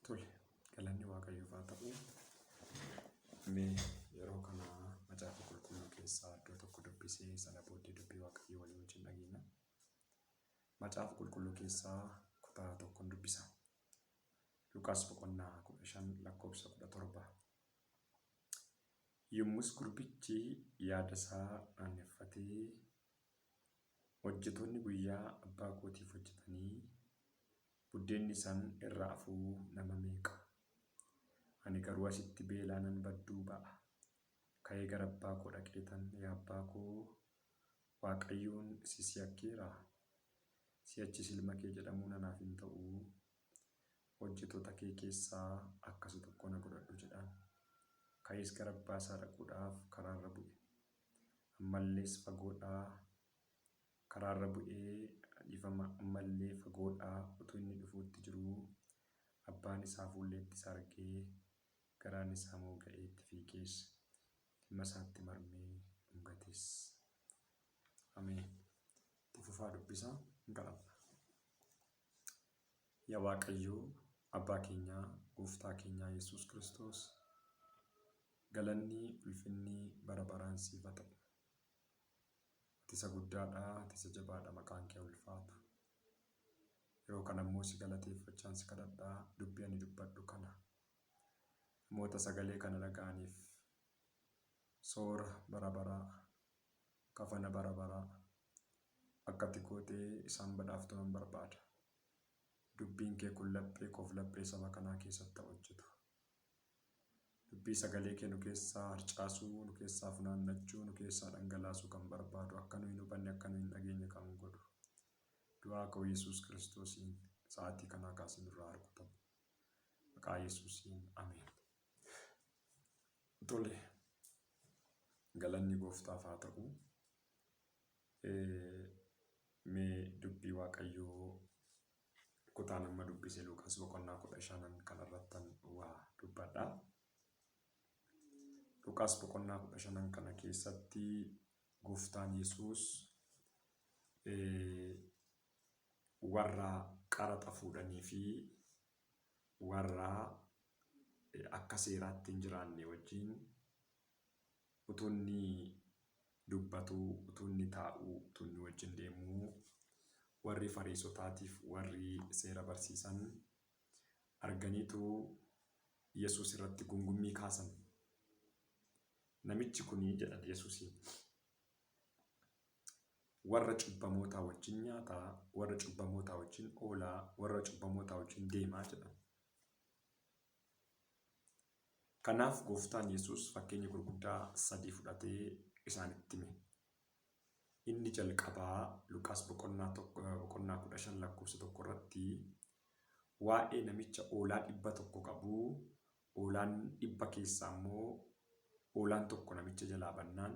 Tole, galanni Waaqayyoof haa ta'u. Mee yeroo kana macaafa qulqulluu keessaa iddoo tokko dubbisee sana booddee dubbii Waaqayyoo walii wajjin dhageenya. Macaafa qulqulluu keessaa kutaa tokkon dubbisa. Luqaas boqonnaa kudha shan lakkoofsa kudha torba. Yommus gurbichi yaada isaa aaneffatee hojjetoonni guyyaa abbaa kootiif hojjetanii Buddeenni san irra afuu nama meeqa? Ani garuu asitti beelaanan badduu ba'a. Ka'ee gara abbaa koo dhaqeetan, Yaa abbaa koo, Waaqayyoon si si yakkeeraa? Si'achis ilma kee jedhamuun anaaf hin ta'u. Hojjetoota kee keessaa akka isa tokkoo na godhadhu jedhaan. Ka'ees gara abbaa isaa dhaquudhaaf karaa irra bu'e. Ammallees fagoodhaa karaarra bu'ee dhiifama ammallee fagoodhaa utuu inni dhufuutti jiruu abbaan isaa fuulleetti isa argee garaan isaa mooga'ee itti fiigees ilma isaatti marmee dhungatees. Ameen. Itti fufaa dubbisaa hunda alla. Yaa Waaqayyoo abbaa keenyaa gooftaa keenyaa Yesuus Kiristoos galanni ulfinni bara baraan siif haa ta'u. Ati isa guddaadha, ati isa jabaadha, maqaan kee haa ulfaatu. Yeroo kana immoo si galateeffachaan si kadhadha, dubbii ani dubbadhu kana namoota sagalee kana dhaga'aniif soora bara baraa, kafana bara baraa akka ati gootee isaan badhaaftu nan barbaada. Dubbiin kee kun laphee koof laphee saba kanaa keessatti haa hojjetu. Dubbii sagalee kee nu keessaa harcaasuu, nu keessaa funaannachuu, nu keessaa dhangalaasuu kan barbaadu, akka nu hin hubanne, akka nu hin dhageenye kan godhu. Du'aa ka'uu Yesuus Kiristoosiin sa'aatii kanaa kaasee nurraa haa rukutamu. Maqaa Yesuusiin Ameen. Tole, galanni gooftaaf haa ta'u. Mee dubbii Waaqayyoo Kutaan amma dubbise Luuqaas boqonnaa kudha shanan kana irrattan waa dubbadha. Luuqaas boqonnaa kudha shanan kana keessatti gooftaan Yesuus warra qaraxa fuudhanii fi warra akka seeraatti hin jiraanne wajjin utuu inni dubbatuu, utuu inni taa'uu, utuu inni wajjin deemuu warri Fariisotaatiif warri seera barsiisan arganiitu Yesuus irratti gungummii kaasan. Namichi kuni jedhan Yesuusiin warra cubbamootaa wajjin nyaata, warra cubbamootaa wajjin oola, warra cubbamootaa wajjin deema jedhan. Kanaaf Gooftaan Yesuus fakkeenya gurguddaa sadii fudhatee isaanitti hime. Inni jalqabaa Luqaas boqonnaa tokko- eh, boqonnaa 15 lakkoofsa tokko irratti waa'ee namicha hoolaa dhibba tokko qabu hoolaan dhibba keessaa immoo hoolaan tokko namicha jalaa bannaan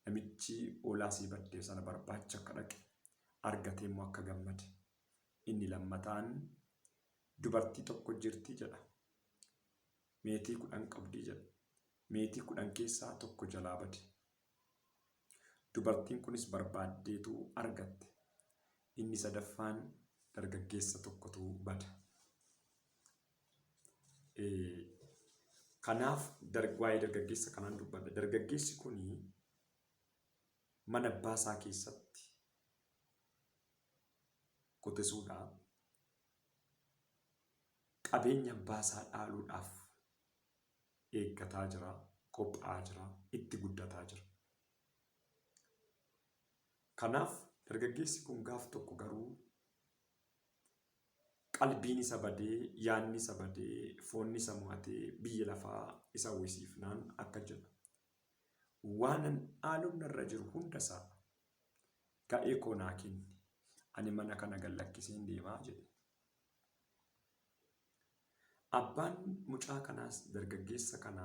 namichi hoolaa isii badde sana barbaacha akka dhaqe argatee immoo akka gammade Inni lammataan, Dubartii tokko jirti jedha. Meetii kudhan qabdi jedha. Meetii kudhan keessaa tokko jalaa bade. Dubartiin kunis barbaaddeetu argatte. Inni sadaffaan dargaggeessa tokkotu bada. Kanaaf waa'ee dargaggeessa kanaan dubbadha. Dargaggeessi kun mana abbaa isaa keessatti qotisuudha. Qabeenya abbaa isaa dhaaluudhaaf eeggataa jira, qophaa'aa jira, itti guddataa jira. Kanaaf dargaggeessi kun gaaf tokko garuu qalbiin isa badee, yaadni isa badee, foonni isa mo'atee biyya lafaa isa hawwisiifnaan akka jedha. Waanan dhaaluun narra jiru hundasaa Ga'ee koo naa kenni, ani mana kana gad lakkiseen deema jedhe. Abbaan mucaa kanaas dargaggeessa kana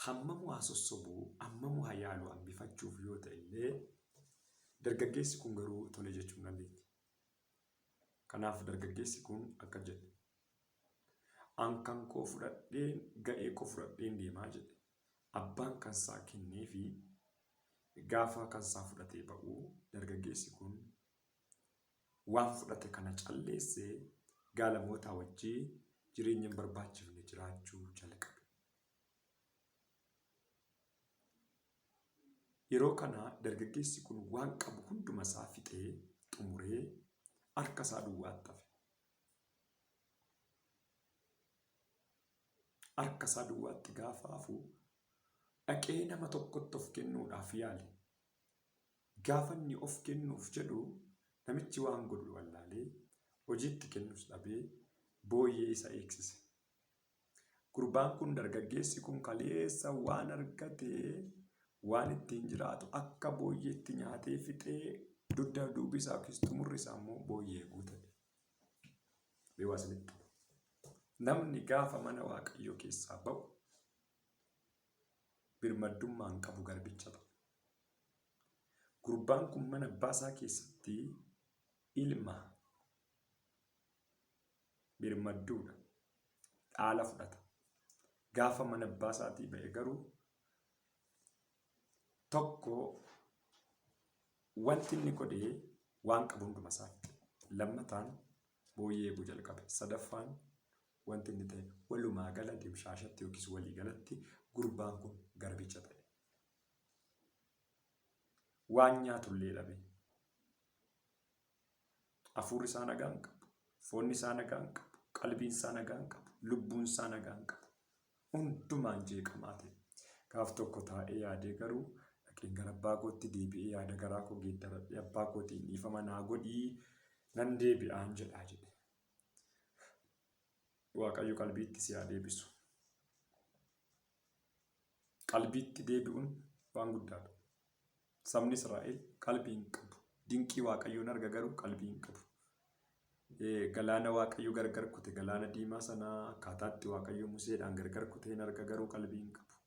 hammamuu haa sossobu, hammamuu haa yaalu hambifachuuf yoo ta'e illee dargaggeessi kun garuu tole jechuu hin dandeetti. Kanaaf dargaggeessi kun akka jedhe. An kan koo fudhadheen ga'ee koo fudhadheen deemaa jedhe. Abbaan kansaa kenneefi gaafa kansaa fudhatee ba'u dargaggeessi kun waan fudhate kana calleessee gaalamootaa wajjin jireenya hin barbaachifne jiraachuu jalqabe. Yeroo kana dargaggeessi kun waan qabu hunduma isaa fixee xumuree harka isaa duwwaatti hafe. harkasaa duwwaatti gaafa hafu, dhaqee nama tokkotti of kennuudhaaf yaale. Gaafa inni of kennuuf jedhu namichi waan godhu wallaalee, hojii itti kennus dhabee booyyee isa eegsise. Gurbaan kun, dargaggeessi kun kaleessa waan argate, waan ittiin jiraatu akka booyyeetti nyaatee fixee dugda duubi isaa yookiis xumurri isaa immoo booyyee guutate. Mee waa isinitti hima. Namni gaafa mana Waaqayyoo keessaa ba'u birmaddummaa hin qabu garbicha ta'a. Gurbaan kun mana abbaa isaa keessatti ilma birmadduudha. Dhaala fudhata. Gaafa mana abbaa isaatii ba'e garuu Tokko wanti inni godhe waan qabu hunduma isaatti. Lammataan booyyee eeguu jalqabe. Sadaffaan wanti inni ta'e walumaa gala dimshaashatti yookiis walii galatti gurbaan kun garbicha ta'e. Waan nyaatullee dhabe. Hafuurri isaa nagaa hin qabu. Foonni isaa nagaa hin qabu. Qalbiin isaa nagaa hin qabu. Lubbuun isaa nagaa hin qabu. Hundumaan jeeqamaa ta'e. Gaaf tokko taa'ee yaadee garuu dhaqeen gara abbaa kootti deebi'ee yaada garaa koo geeddaradhee abbaa kootiin dhiifama naa godhii nan deebi'aan jedhaa jedhe. Waaqayyo qalbiitti si haa deebisu. Qalbiitti deebi'uun waan guddaadha. Sabni Israa'el qalbii hin qabu. Dinqii Waaqayyoon arga garuu qalbii hin qabu. Galaana Waaqayyo gargar kute galaana diimaa sanaa akkaataatti Waaqayyo Museedhaan gargar kute hin arga garuu qalbii hin qabu.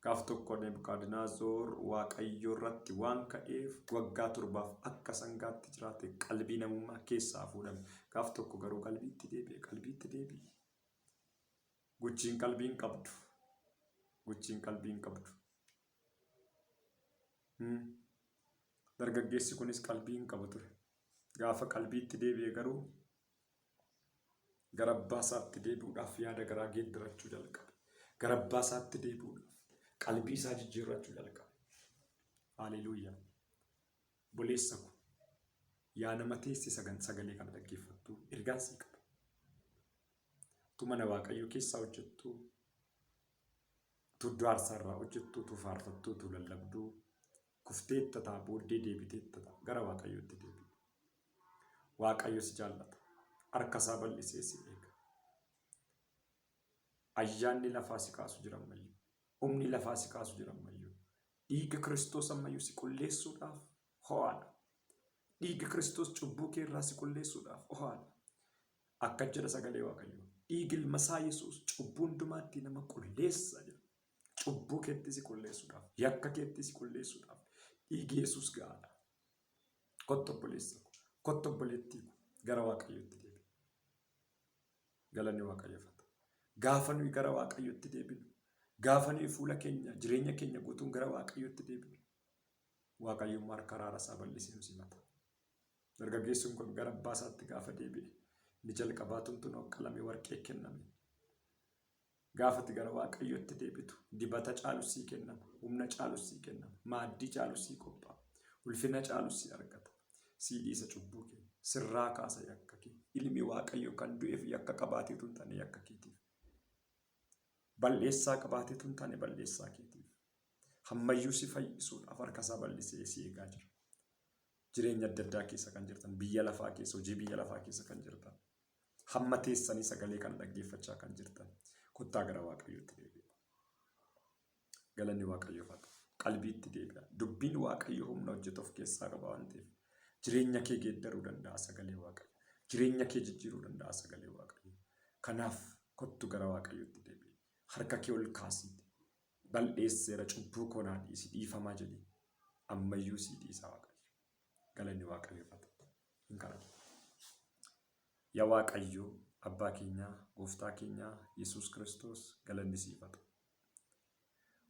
Gaaf tokko Nebukadnezar Waaqayyo irratti waan ka'eef waggaa torbaaf akka sangaatti jiraate qalbii namummaa keessaa fuudhame. Gaaf tokko garuu qalbiitti deebi'e qalbiitti deebi'e. Guchiin qalbii hin qabdu. Guchiin qalbii hin qabdu. Hmm. Dargaggeessi kunis qalbii hin qabu ture. Gaafa qalbiitti deebi'e garuu gara abbaa isaatti deebi'uudhaaf yaada garaa geeddarachuu jalqabe. Gara abbaa isaatti deebi'uudhaaf qalbii isaa jijjiirrachuu jalqabe. Haaleluuyaa. Obboleessa ko, yaa nama teesse sagan sagalee kana dhaggeeffattu, ergaan sii qaba. Utuu mana Waaqayyoo keessaa hojjettu, utuu iddoo aarsaa irraa hojjettu, utuu faarfattu, utuu lallabdu, kufteetta ta'a, booddee deebiteetta ta'a. Gara Waaqayyootti deebi'i. Waaqayyo si jaallata. Harka isaa bal'isee si eega. Ayyaanni lafaa si kaasu jira ammayyuu. Humni lafaa si kaasu jira ammayyuu. Dhiigga Kiristoos ammayyuu si qulleessuudhaaf ho'aadha. Dhiigga Kiristoos cubbuu kee irraa si qulleessuudhaaf ho'aadha. Akka jedha sagalee Waaqayyoo. Dhiigi ilma isaa Yesuus cubbuu hundumaattii nama qulleessa jedha. Cubbuu keettii si qulleessuudhaaf, yakka keettii si qulleessuudhaaf dhiigi Yesuus ga'aadha. Kottu obboleessa ko, kottu obboleettii ko gara Waaqayyootti deebi'i. Galanni Waaqayyoof haa ta'u. Gaafa nuyi gara Waaqayyootti deebinu, gaafa nuyi fuula keenya, jireenya keenya guutuun gara Waaqayyootti deebinu, Waaqayyo immoo harka araara isaa bal'isee nu simata. Dargaggeessuun kun gara abbaa isaatti gaafa deebi'e, inni jalqabaa tumtuun qalamee warqee kenname. Gaafa ati gara Waaqayyootti deebitu, dibata caalus sii kennama, humna caalus sii kennama, maaddii caalus sii qophaa'a, ulfina caalus sii argata. Sii dhiisa cubbuu kee, sirraa kaasa yakka kee. Ilmi Waaqayyoo kan du'eef yakka qabaatee utuu hin taane yakka keetiif. Bal'eessaa qabaatee utuu hin taane bal'eessaa keetiif. Hammayyuu si fayyisuudhaaf harka isaa bal'isee si eegaa jira. Jireenya adda addaa keessa kan jirtan, biyya lafaa keessa, hojii biyya lafaa keessa kan jirtan. Hamma teessanii sagalee kana dhaggeeffachaa kan jirtan kottaa gara Waaqayyootti deebi'aa. Galanni Waaqayyoof haa ta'u. Qalbiitti deebi'aa. Dubbiin Waaqayyoo humna hojjetu of keessaa qaba waan ta'eef jireenya kee geeddaruu danda'a sagalee Waaqayyo. Jireenya kee jijjiiruu danda'a sagalee Waaqayyo. Kanaaf kottu gara Waaqayyootti deebi'i. Harka kee ol kaasiiti. Bal'eesseera cubbuu koo naa dhiisi dhiifamaa jedhi. Ammayyuu sii dhiisa Waaqayyo. galanni waaqayyoof haa ta'u. Hin kadhatu. Yaa Waaqayyo abbaa keenyaa gooftaa keenyaa Yesuus Kiristoos galanni siif haa ta'u.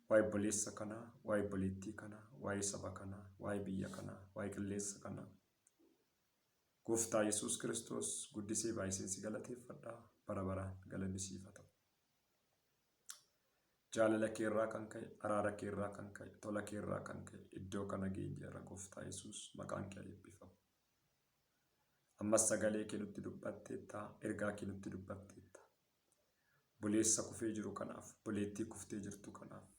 Waa'ee obboleessa kanaa, waa'ee obboleettii kanaa, waa'ee saba kanaa, waa'ee biyya kanaa, waa'ee qilleensa kanaa. Gooftaa Yesuus Kiristoos guddisee baay'iseen si galateeffadha bara baraan galanni siif haa ta'u. Jaalala kee irraa kan ka'e, araara kee irraa kan ka'e, tola kee irraa kan ka'e iddoo kana geenyeerra gooftaa Yesuus maqaan kee eebbifamu. Ammas sagalee kee nutti dubbatteetta, ergaa kee nutti dubbatteetta. Buleessa kufee jiru kanaaf, buleettii kuftee jirtu kanaaf,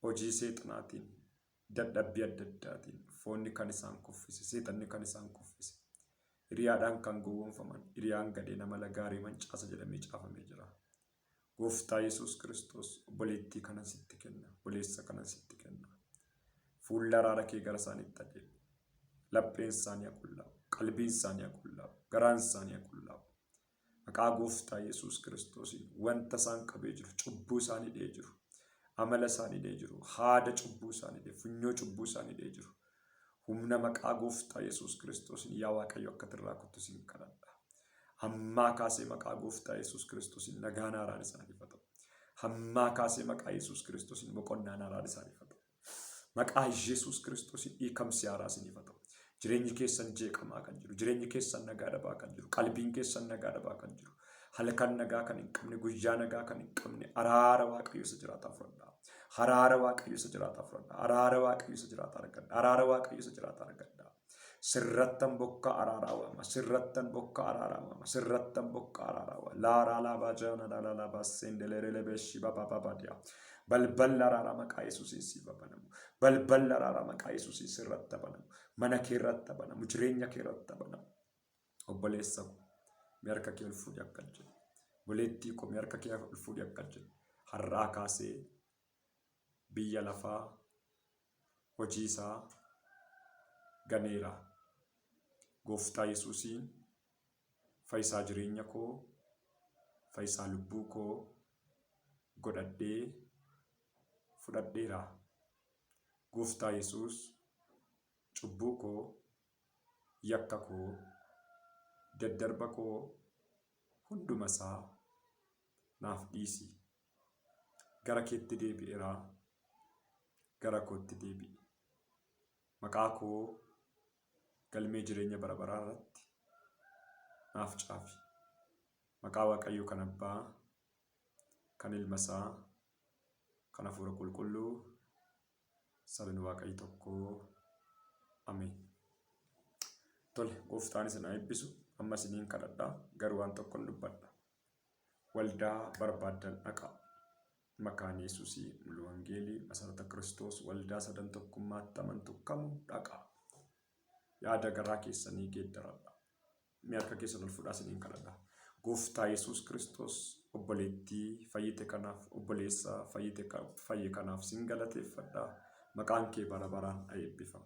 Hojii seexanaatiin, dadhabbii adda addaatiin, foonni kan isaan kuffise, seexanni kan isaan kuffise, hiriyaadhaan kan gowwoomfaman, hiriyaan gadhee nama lagaaree mancaasa jedhamee caafamee jira. Gooftaa Yesuus Kiristoos obboleettii kanan sitti kenna, obboleessa kanan sitti kenna. Fuulla araara kee gara isaaniitti adeemi. Lapheen isaanii haa qullaa'u, qalbiin isaanii haa qullaa'u, garaan isaanii haa qullaa'u. Maqaa gooftaa Yesuus Kiristoosiin wanta isaan qabee jiru, cubbuu isaan hidhee jiru, amala isaan hidhee jiru, haada cubbuu isaan hidhee, funyoo cubbuu isaan hidhee jiru. Humna maqaa gooftaa Yesuus Kiristoosiin yaa Waaqayyo akka irraa kuttu siin kadhadha. Hammaa kaasee maqaa gooftaa Yesuus Kiristoosiin nagaan haaraan isaaniif haa ta'u. Hammaa kaasee maqaa Yesuus Kiristoosiin boqonnaan haaraan isaaniif haa ta'u. Maqaa Yesuus Kiristoosiin dhiikamsi haaraa isiniif haa ta'u. Jireenyi keessan jeeqamaa kan jiru, jireenyi keessan nagaa dhabaa kan jiru, qalbiin keessan nagaa dhabaa kan jiru, halkan nagaa kan hin qabne, guyyaa nagaa kan hin qabne, araara Waaqayyo isa jiraataa fudhadhaa. Araara Waaqayyo isa jiraataa fudhadhaa. Araara Waaqayyo isa jiraataa argadhaa. Araara Waaqayyo isa jiraataa argadhaa. Sirrattan bokkaa araaraa waama. Sirrattan bokkaa araaraa waama. Sirrattan bokkaa araaraa waama. Laaraa laabaa jaana laalaa laabaa seendeleree lebeeshii babaa babaa diyaa. Balballi araaraa maqaa Yesuusiin siif haa banamu. Balballi araaraa maqaa Yesuusiin sirratti haa banamu. Mana kee irratti haa banamu. Jireenya kee irratti haa banamu. Obboleessa koo mee harka kee ol fuudhii akka jedhu. Obboleettii koo mee harka kee ol fuudhii akka jedhu. Har'aa kaasee biyya lafaa hojiisaa ganeera. Gooftaa Yesuusiin fayisaa jireenya koo, fayisaa lubbuu koo godhadhee fudhadheera. Gooftaa Yesuus cubbuu koo, yakka koo, daddarba koo hundumasaa naaf dhiisi. gara keetti deebi'eera gara kootti deebi'i maqaa koo galmee jireenya bara baraa irratti naaf caafi maqaa waaqayyoo kan abbaa kan ilma isaa kan hafuura qulqulluu sabni waaqayyo tokko ameen tole gooftaan isin haa eebbisu amma isiniin kadhadha garuu waan tokkon dubbadha Waldaa barbaaddan dhaqaa. Makaane Yesusi, Mulu Wangeelii, Masarata Kiristoos, Waldaa Sadan Tokkummaatti amantu kamuu dhaqaa. Yaada garaa keessanii geeddaradha. Mee harka keessan ol fudhaa isiniin kadhadha. Gooftaa Yesuus Kiristoos obboleettii fayyite kanaaf obboleessa fayyite fayye kanaaf sin galateeffadha. Maqaan kee bara baraan haa eebbifamu.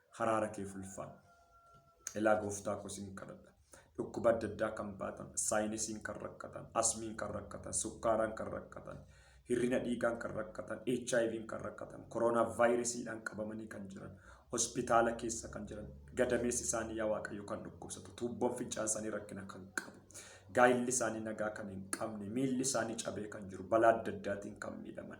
haraara keef ulfaadhu. Elaa gooftaa koo sin kadhadha. Dhukkuba adda addaa kan baatan, saayinesiin kan rakkatan, asmiin kan rakkatan, sukkaaraan kan rakkatan, hirrina dhiigaan kan rakkatan, HIVn kan rakkatan, koroonaa vaayiresiidhaan qabamanii kan jiran, hospitaala keessa kan jiran, gadameessi isaanii yaa Waaqayyo kan dhukkubsatu, tuubboon fincaan isaanii rakkina kan qabu, gaa'illi isaanii nagaa kan hin qabne, miilli isaanii cabee kan jiru, balaa adda addaatiin kan miidhaman,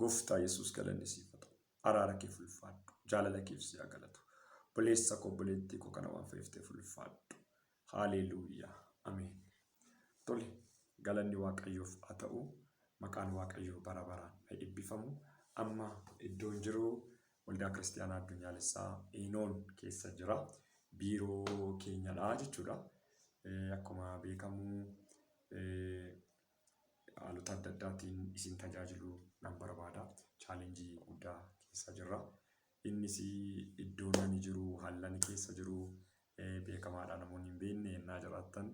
Gooftaa Yesuus galanni siif haa ta'u. Araara keef ulfaadhu. Jaalala keef si haa galatu. Obboleessa koo obboleettii koo kana waan fayyifteef ulfaadhu. Haaleeluuyaa. Ameen. Tole galanni Waaqayyoof haa ta'u. Maqaan Waaqayyoo bara baraan haa eebbifamu. Amma iddoon jiru waldaa kiristaanaa addunyaalessaa Eenoon keessa jira. Biiroo keenyadha jechuudha. Eh, Akkuma beekamu eh, haalota adda addaatiin isin tajaajiluu nan barbaada. Challenge guddaa keessa jirra. Innis iddoon ani jiru, haalli ani keessa jiru beekamaadha namoonni hin beekne yennaa jiraattan.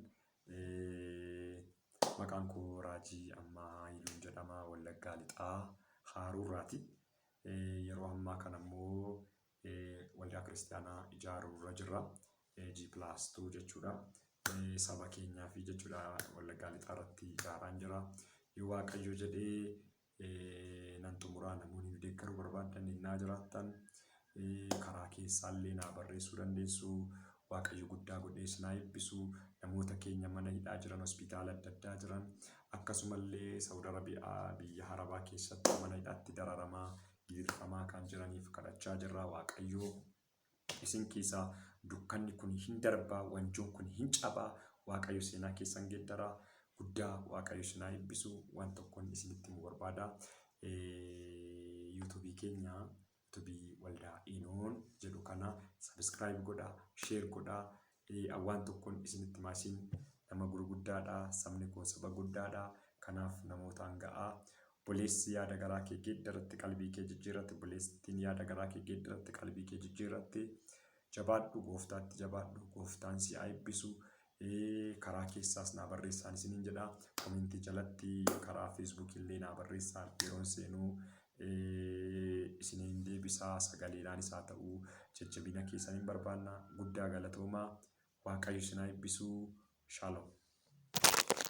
Maqaan koo Raajii Ammaa Haayiluun jedhama Wallaggaa Lixaa Haaruurraati. Yeroo ammaa kanammoo Waldaa kiristaanaa ijaaruu irra jirra. G plus 2 jechuudha. Saba keenyaa fi jechuudha wallaggaa lixaa irratti ijaaraan jira. Yoo waaqayyo jedhee nan xumuraa namoonni deeggaruu barbaadan innaa jiraattan karaa keessaallee naa barreessuu dandeessu. Waaqayyo guddaa godhee isin haa eebbisu. Namoota keenya mana hidhaa jiran, hospitaala adda addaa jiran akkasumallee Saawud Arabiyaa biyya Arabaa keessatti mana hidhaatti dararamaa dirqamaa kan jiraniif kadhachaa jirraa waaqayyoo isin keessaa dukkanni kun hin darbaa wanjoon kun hin cabaa waaqayyo seenaa keessan geeddaraa guddaa waaqayyo sinaa eebbisu waan tokkoon isinitti mu barbaada yuutuubii keenya yuutuubii waldaa inoon jedhu kana sabiskiraayib godha sheer godha Ee, an waan tokkon isinitti hima, isin nama gurguddaa dha, sabni koo saba guddaa dha, kanaaf namootaan ga'aa. Obboleessi yaada garaa kee geeddaratte, qalbii kee jijjiirratte, obboleettiin yaada garaa kee geeddaratte, qalbii kee jijjiirratte. Jabaadhu, Gooftaatti jabaadhu, Gooftaan si haa eebbisu. Ee, karaa keessaas naa barreessaan isiniin jedha. Komentii jalatti karaa Facebook illee naa barreessaa, yeroon seenuu isiniin deebisa sagaleedhaan isaa ta'u jajjabina keessan hin barbaanna guddaa galatoomaa waaqayyo isin haa ebbisuu shalom.